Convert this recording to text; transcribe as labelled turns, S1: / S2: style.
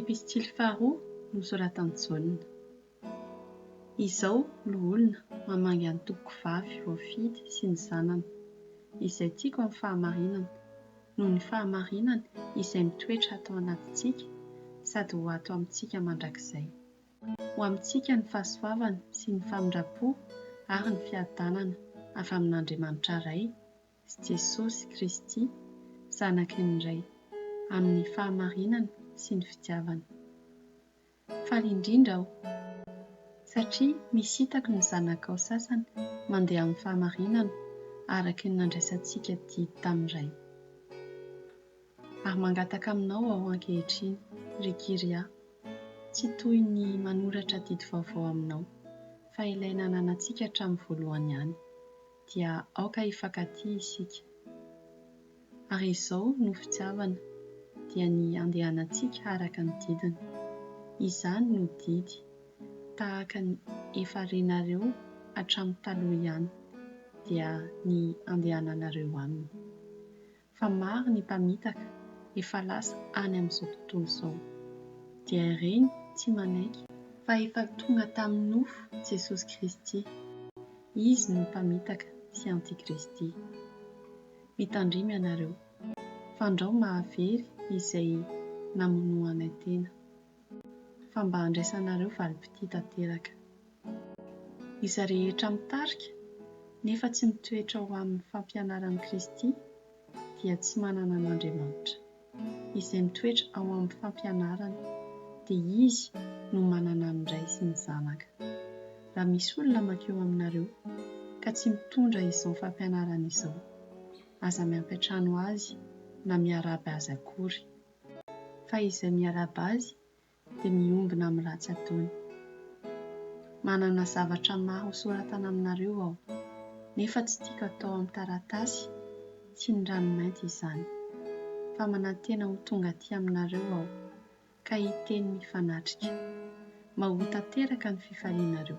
S1: Epistily faharoa nosoratan'i Jaona. Izao no olona mamangy an'ny tompoko vavy voafidy sy ny zanany, izay tiako amin'ny fahamarinana, noho ny fahamarinany izay mitoetra hatao anatintsika sady ho ato amintsika mandrakizay. Ho amintsika ny fahasoavana sy ny famindram-po ary ny fiadanana avy amin'Andriamanitra Ray, sy Jesosy Kristy, Zanaky ny Ray, amin'ny fahamarinana sy ny fitiavana. Faly indrindra aho, satria misintako ny zanakao sasany mandeha amin'ny fahamarinana araky ny nandraisantsika didy tamin'ny Ray. Ary mangataka aminao aho ankehitriny, ry Kyria, tsy toy ny manoratra didy vaovao aminao, fa ilay nananantsika hatramin'ny voalohany ihany. dia aoka hifankatia isika. Ary izao no fitiavana, dia ny handehanantsika araka ny didiny. Izany no didy, tahaka ny efa renareo hatramin'ny taloha ihany, dia ny handehananareo aminy. fa maro ny mpamitaka efa lasa any amin'izao tontolo izao. Dia ireny tsy manaiky fa efa tonga tamin'ny nofo Jesosy Kristy. Izy no mpamitaka sy antikristy. Mitandrimy ianareo, fandrao mahavery izay namonoanay tena. fa mba handraisanareo valim-pitia tanteraka. Iza rehetra mitarika nefa tsy mitoetra ho amin'ny fampianaran'i Kristy dia tsy manana an'Andriamanitra. Izay mitoetra ao amin'ny fampianarany dia izy no manana ny Ray sy ny Zanaka. Raha misy olona mankeo aminareo ka tsy mitondra izao fampianarana izao, aza miampiantrano azy na miaraby azy akory. fa izay miarahaba azy dia miombona amin'ny ratsy ataony. Manana zavatra maro hosoratana aminareo aho, nefa tsy tiako atao amin'ny taratasy sy ny ranomainty izany, fa manantena ho tonga aty aminareo aho, ka hiteny mifanatrika. Mba ho tanteraka ny fifalianareo.